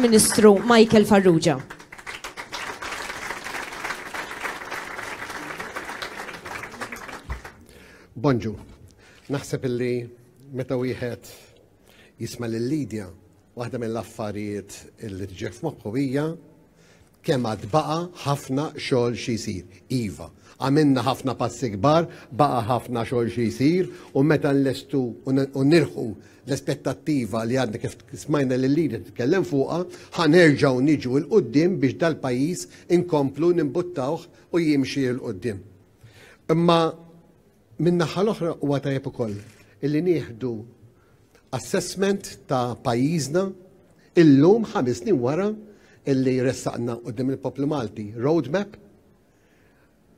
Ministru Michael Farrugia. Bonġu, naħseb illi meta wieħed jisma' lil Lidja, waħda mill-affarijiet illi tġef moħħu hija Kemm għad baqa' ħafna xogħol xi jsir. Iva, għamilna ħafna passi kbar, baqa' ħafna xogħol xi jsir u meta nlestu u nilħqu l-aspettattiva li għadna kif smajna lil Lidia titkellem fuqha, ħa nerġgħu niġu 'l quddiem biex dal-pajjiż inkomplu nimbuttawh u jimxi 'l quddiem. Imma Min-naħa l-oħra huwa tajjeb ukoll illi nieħdu assessment ta' pajjiżna illum ħames snin wara illi ressaqna quddiem il-poplu Malti roadmap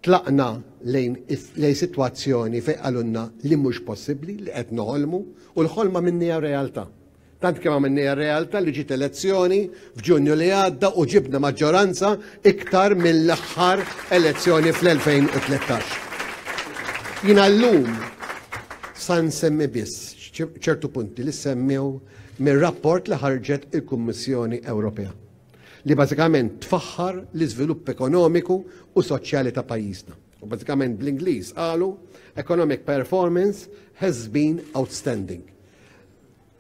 tlaqna lejn lejn sitwazzjoni fejn qalulna li mhux possibbli li qed noħolmu u l-ħolma minnija realtà. Tant kemm għamilniha r-realta li ġiet elezzjoni f'Ġunju li għadda u ġibna maġġoranza iktar mill-aħħar elezzjoni fl-2013. Jiena llum sa nsemmi biss ċertu punti li semmew mir-rapport li ħarġet il-Kummissjoni Ewropea li bażikament tfaħħar l-iżvilupp ekonomiku u soċjali ta' pajjiżna. U bażikament bl-Ingliż qalu economic performance has been outstanding.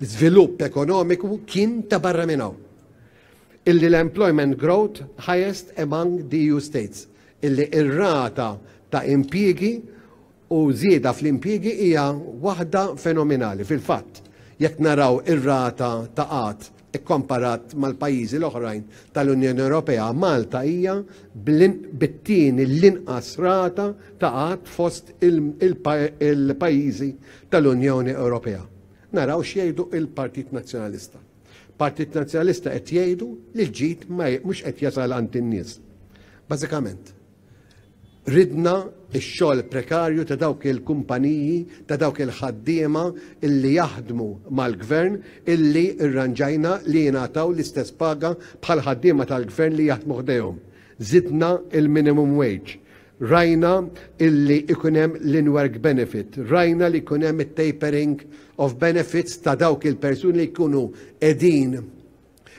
żvilupp ekonomiku kien ta' barra minn hawn. Illi l-employment growth highest among the EU states, illi ir-rata ta' impjiegi u żieda fl-impjiegi hija waħda fenomenali. Fil-fatt, jekk naraw ir-rata ta' qatt Ikkomparat mal-pajjiżi l-oħrajn tal-Unjoni Ewropea, Malta hija bit-tieni l-inqas rata ta' qgħad fost il-pajjiżi tal-Unjoni Ewropea. Naraw x'jgħidu l-Partit Nazzjonalista. Partit Nazzjonalista qed jgħidu li l-ġid mhux qed jasal għand in-nies. Bażikament. Ridna x-xogħol prekarju ta' dawk il-kumpaniji, ta' dawk il-ħaddiema illi jaħdmu mal-Gvern illi rranġajna li jingħataw l-istess paga bħall-ħaddiema tal-Gvern li jaħdmu ħdejhom. Żidna l-minimum wage. Rajna illi jkun hemm l-in-work benefit. Rajna li jkun hemm it-tapering of benefits ta' dawk il-persuni li jkunu qegħdin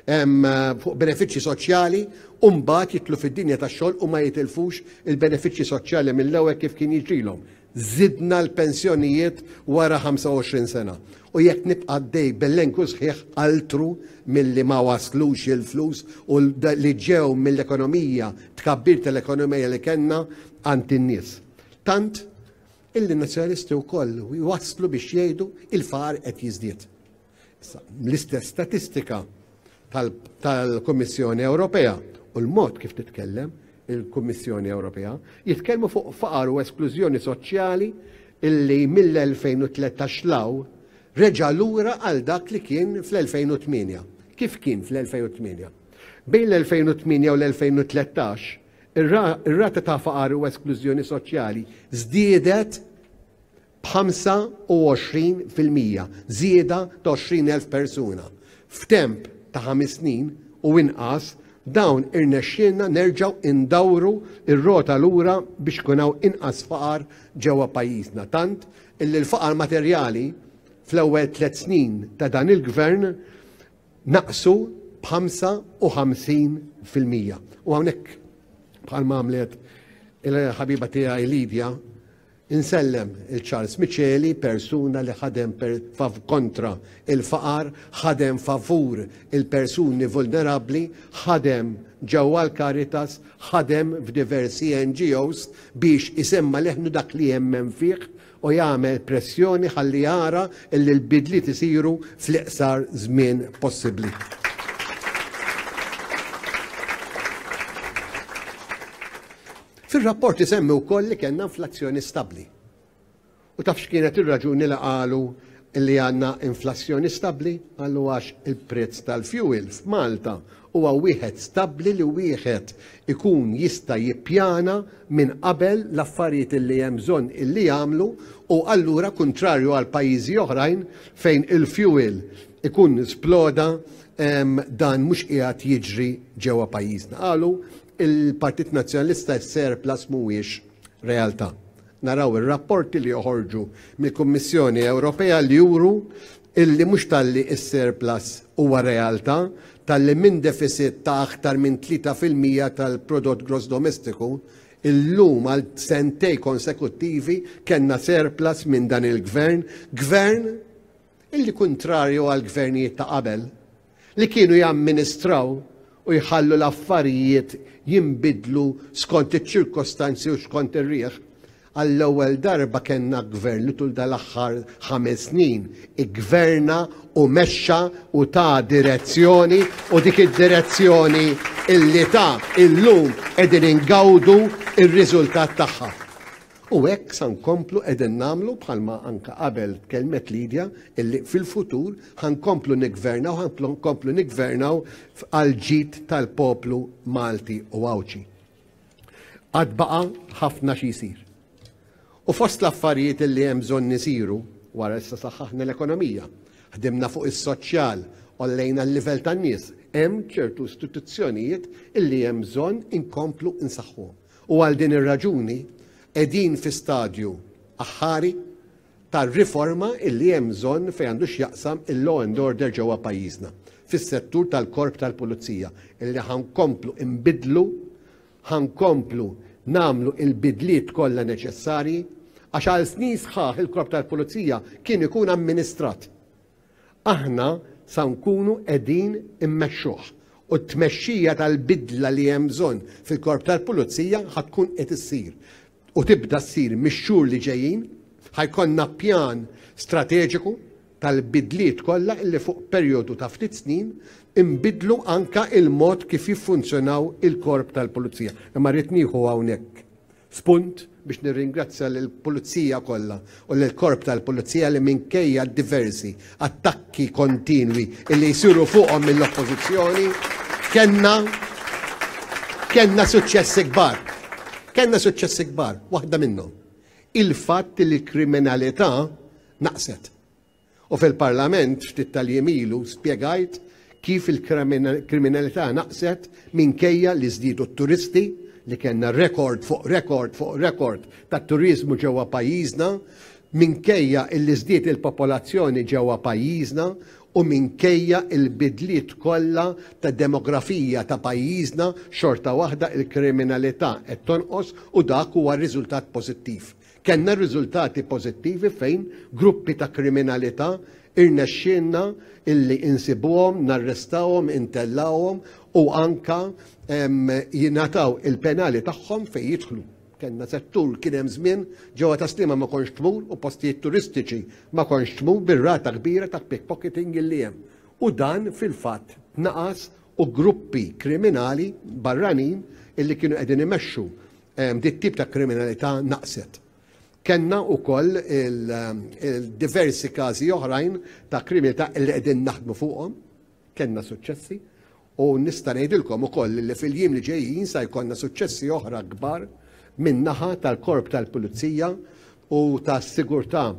fuq benefiċċji soċjali u mbagħad jitlu fid-dinja tax-xogħol u ma jitilfux il-benefiċċji soċjali mill-ewwel kif kien jiġrilhom. Żidna l-pensjonijiet wara 25 sena u jekk nibqa' dej bell-enku sħiħ altru milli ma waslux il-flus u li ġew mill-ekonomija tkabbir tal-ekonomija li kellna għand in-nies. Tant illi nazzjonalisti wkoll waslu biex jgħidu il-faqar qed jiżdied. L-istess statistika tal-Kummissjoni Ewropea u l-mod kif titkellem il-Kummissjoni Ewropea jitkellmu fuq faqar u esklużjoni soċjali illi mill-2013 law reġa' lura għal dak li kien fl-2008. Kif kien fl-2008? Bejn l-2008 u l-2013, ir-rata ta' faqar u esklużjoni soċjali żdiedet 25 fil-mija, żieda ta' 20,000 persuna. F'temp ta' ħames snin u inqas, dawn irnexxielna nerġgħu ndawru r-rota lura biex ikun hawn inqas faqar ġewwa pajjiżna, tant illi l-faqar materjali fl-ewwel tliet snin ta' dan il-Gvern naqsu b'55 fil-mija. U hawnhekk, bħalma għamlet il-ħabiba tiegħi Lydia, Insellem il Charles Miceli, persuna li ħadem kontra il-faqar, ħadem favur il-persuni vulnerabbli, ħadem ġewwa l-Caritas, ħadem f'diversi NGOs biex isemma' leħnu dak li jemmen fih u jagħmel pressjoni ħalli jara illi l-bidliet isiru fl-iqsar żmien possibbli. Fir-rapport isemmi wkoll li kellna inflazzjoni stabbli. U taf x'kienet ir-raġuni li qalu li għandna inflazzjoni stabbli? Qalu għax il-prezz tal-fuel f'Malta huwa wieħed stabbli li wieħed ikun jista' jippjana minn qabel l-affarijiet li hemm bżonn li jagħmlu u allura kuntrarju għal pajjiżi oħrajn fejn il-fuel ikun sploda dan mhux qiegħed jiġri ġewwa pajjiżna. Qalu Il-Partit Nazzjonalista s-surplus mhuwiex realtà. Naraw ir-rapporti li joħorġu mill-Kummissjoni Ewropea li juru illi mhux talli s-surplus huwa realtà, talli minn defisit ta' aktar minn 3 fil-mija tal-prodott gross domestiku, illum għal sentejn konsekuttivi kellna surplus minn dan il-Gvern, Gvern illi kuntrarju għall-Gvernijiet ta' qabel, li kienu jamministraw u jħallu l-affarijiet jinbidlu skont iċ-ċirkostanzi u skont ir-riħ, għall-ewwel darba kellna Gvern li tul dal-aħħar ħames snin iggverna u mexxa u ta direzzjoni u dik id-direzzjoni li ta illum qegħdin ingawdu r-riżultat tagħha. U hekk sa nkomplu qegħdin nagħmlu bħalma anke qabel tkellmet Lydia illi fil-futur ħa nkomplu niggvernaw ħa nkomplu niggvernaw għall-ġid tal-poplu Malti u Għawdxi. Għad baqa' ħafna xi jsir. U fost l-affarijiet illi hemm bżonn isiru wara issa saħħaħna l-ekonomija, ħdimna fuq is-soċjal, ollejna l-livell tan-nies, hemm ċertu istituzzjonijiet illi hemm bżonn inkomplu nsaħħuhom. U għal din ir-raġuni qegħdin fi stadju aħħari ta' riforma illi hemm bżonn fejn għandu x'jaqsam il-law and order ġewwa pajjiżna fis-settur tal-Korp tal-Pulizija illi ħa nkomplu nbiddlu, ħa nkomplu nagħmlu l-bidliet kollha neċessarji għax għal snin sħaħ il-Korp tal-Pulizija kien ikun amministrat. Aħna sa nkunu qegħdin immexxuh u t-tmexxija tal-bidla li hemm bżonn fil-Korp tal-Pulizija ħa tkun qed issir u tibda ssir mix-xhur li ġejjin. Ħa jkollna pjan strateġiku tal-bidliet kollha li fuq perjodu ta' ftit snin inbiddlu anke l-mod kif jiffunzjonaw il-Korp tal-Pulizija. Imma rrid nieħu hawnhekk Spunt biex nirringrazzja lill-Pulizija kollha u lill-Korp tal-Pulizija li minkejja d-diversi attakki kontinwi li jsiru fuqhom mill-Oppożizzjoni, kellna kellna suċċessi kbar. Kellna suċċessi kbar, waħda minnhom, il-fatt li l-kriminalità naqset. U fil-Parlament ftit tal-jiem ilu spjegajt kif il-kriminalità naqset minkejja li żdiedu t-turisti, li kellna rekord fuq rekord fuq rekord tat-turiżmu ġewwa pajjiżna, minkejja li żdied il-popolazzjoni ġewwa pajjiżna u minkejja l-bidliet kollha ta' demografija ta' pajjiżna xorta waħda l-kriminalità qed tonqos u dak huwa riżultat pożittiv. Kellna riżultati pożittivi fejn gruppi ta' kriminalità irnexxielna illi insibuhom, narrestawhom, intellgħuhom u anke jingħataw il-penali tagħhom fejn jidħlu. Kellna settur kien hemm żmien ġewwa ta' Sliema ma kontx tmur u postijiet turistiċi ma kontx tmur bir-rata kbira ta' pickpocketing illi hemm. U dan fil-fatt tnaqas u gruppi kriminali barranin illi kienu qegħdin imexxu Din it-tip ta' kriminalità naqset. Kellna wkoll il-diversi każi oħrajn ta' kriminalità li qegħdin naħdmu fuqhom, kellna suċċessi u nista' ngħidilkom ukoll li fil-jiem li ġejjin sa jkollna suċċessi oħra kbar min-naħa tal-Korp tal-Pulizija u tas-sigurtà,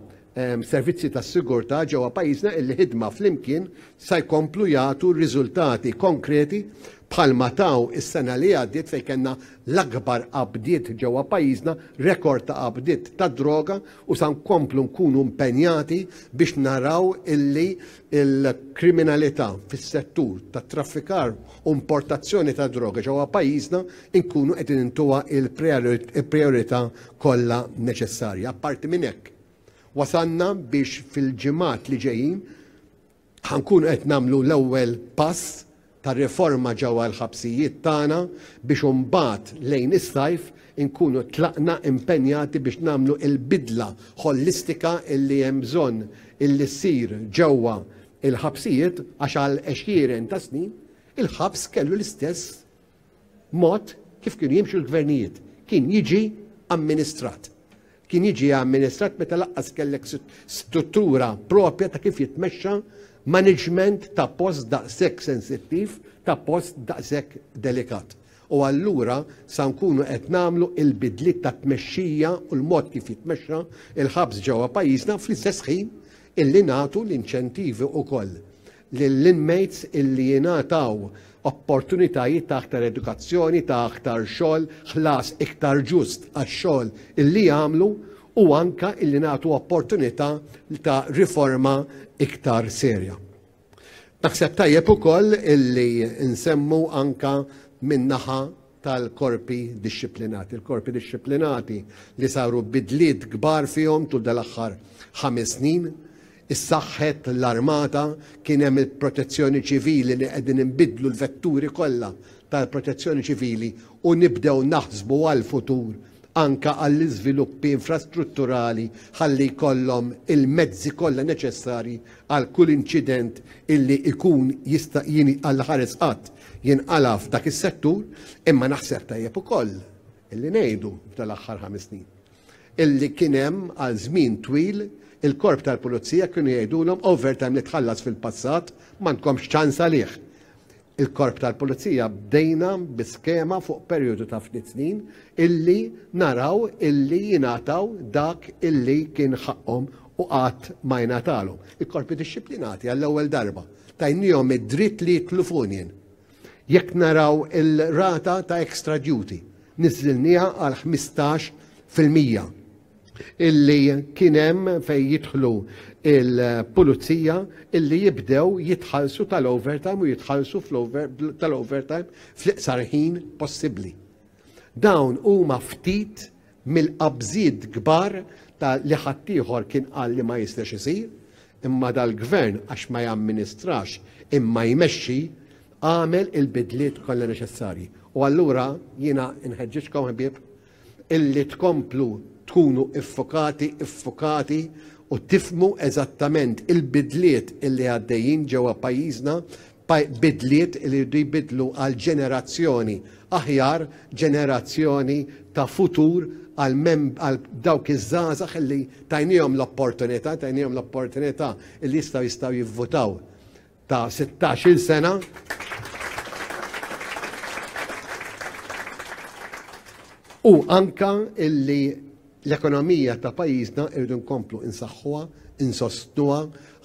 servizzi tas-sigurtà ġewwa pajjiżna illi ħidma flimkien sa jkomplu jagħtu riżultati konkreti bħalma taw is-sena li għaddiet fejn kellna l-akbar qabdiet ġewwa pajjiżna, rekord ta' qabdiet tad-droga u sa nkomplu nkunu mpenjati biex naraw illi il-kriminalità fis-settur tat-traffikar u importazzjoni ta' droga ġewwa pajjiżna nkunu qed intuha l-prijorità kollha neċessarja. Apparti minn hekk, wasalna biex fil-ġimgħat li ġejjin ħankunu qed nagħmlu l-ewwel pass ta' riforma ġewwa l-ħabsijiet tagħna biex imbagħad lejn is-sajf inkunu tlaqna impenjati biex nagħmlu l-bidla ħollistika li hemm bżonn li ssir ġewwa l-ħabsijiet għax għal għexieren ta' snin il-ħabs kellu l-istess mod kif kienu jimxu l-gvernijiet. Kien jiġi amministrat. Kien jiġi amministrat meta laqqas kellek struttura propja ta' kif jitmexxa maniġment ta' post daqshekk sensittiv, ta' post daqshekk delikat. U allura sa nkunu qed nagħmlu l-bidliet ta' tmexxija u l-mod kif jitmexxa l-ħabs ġewwa pajjiżna fl-istess ħin illi nagħtu l-inċentivi wkoll lill-inmates illi jingħataw opportunitajiet ta' aktar edukazzjoni, ta' aktar xogħol, ħlas iktar ġust għax-xogħol illi jagħmlu u anke illi nagħtu opportunità ta' riforma iktar serja. Naħseb tajjeb ukoll illi nsemmu anke min-naħa tal-korpi dixxiplinati. Il-korpi dixxiplinati li saru bidliet kbar fihom tul dal-aħħar ħames snin, issaħħet l-armata, kien hemm il-protezzjoni ċivili li qegħdin inbiddlu l-vetturi kollha tal-protezzjoni ċivili u nibdew naħsbu għall-futur anke għall-iżviluppi infrastrutturali ħalli jkollhom il-mezzi kollha neċessarji għal kull inċident illi ikun jista' għall-ħares qatt jinqala' f'dak is-settur, imma naħseb tajjeb ukoll illi ngħidu f'dan l-aħħar ħames snin illi kien hemm għal żmien twil il-korp tal-pulizija kienu jgħidulhom overtime li tħallas fil-passat m'għandkomx ċans għalih. Il-korp tal-pulizija bdejna bi skema fuq perjodu ta' ftit snin illi naraw illi jingħataw dak illi kien ħaqqhom u qatt ma jingħatalhom. Il-korpi dixxiplinati għall-ewwel darba Tajniehom id-dritt li jidħlu f'union. Jekk naraw il-rata ta' extra duty, niżżilnieha għal 15 fil-mija illi kien hemm fejn jidħlu il-pulizija illi jibdew jitħallsu tal-overtime u jitħallsu tal-overtime fl-iqsar ħin possibbli. Dawn huma ftit mill-qabżiet kbar ta' li ħaddieħor kien qal li ma jistax isir, imma dal-Gvern għax ma jamministrax imma jmexxi, għamel il-bidliet kollha neċessarji. U allura jiena nħeġġiġkom ħbieb illi tkomplu tkunu iffokati, iffukati u tifmu eżattament il-bidliet illi għaddejjin ġewwa pajjiżna bidliet li jridu jbiddlu għal ġenerazzjoni aħjar, ġenerazzjoni ta' futur għal għal dawk iż-żgħażagħ li tajniehom l-opportunità, tajniehom l-opportunità li jistgħu jistgħu jivvutaw ta' sittax-il sena. U anka illi L-ekonomija ta' pajjiżna rridu nkomplu insaħħuha, insostnuha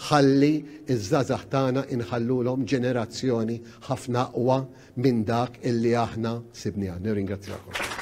ħalli ż-żgħażagħ tagħna inħallulhom ġenerazzjoni ħafna aqwa minn dak illi aħna sibniha. Nirringrazzjakom.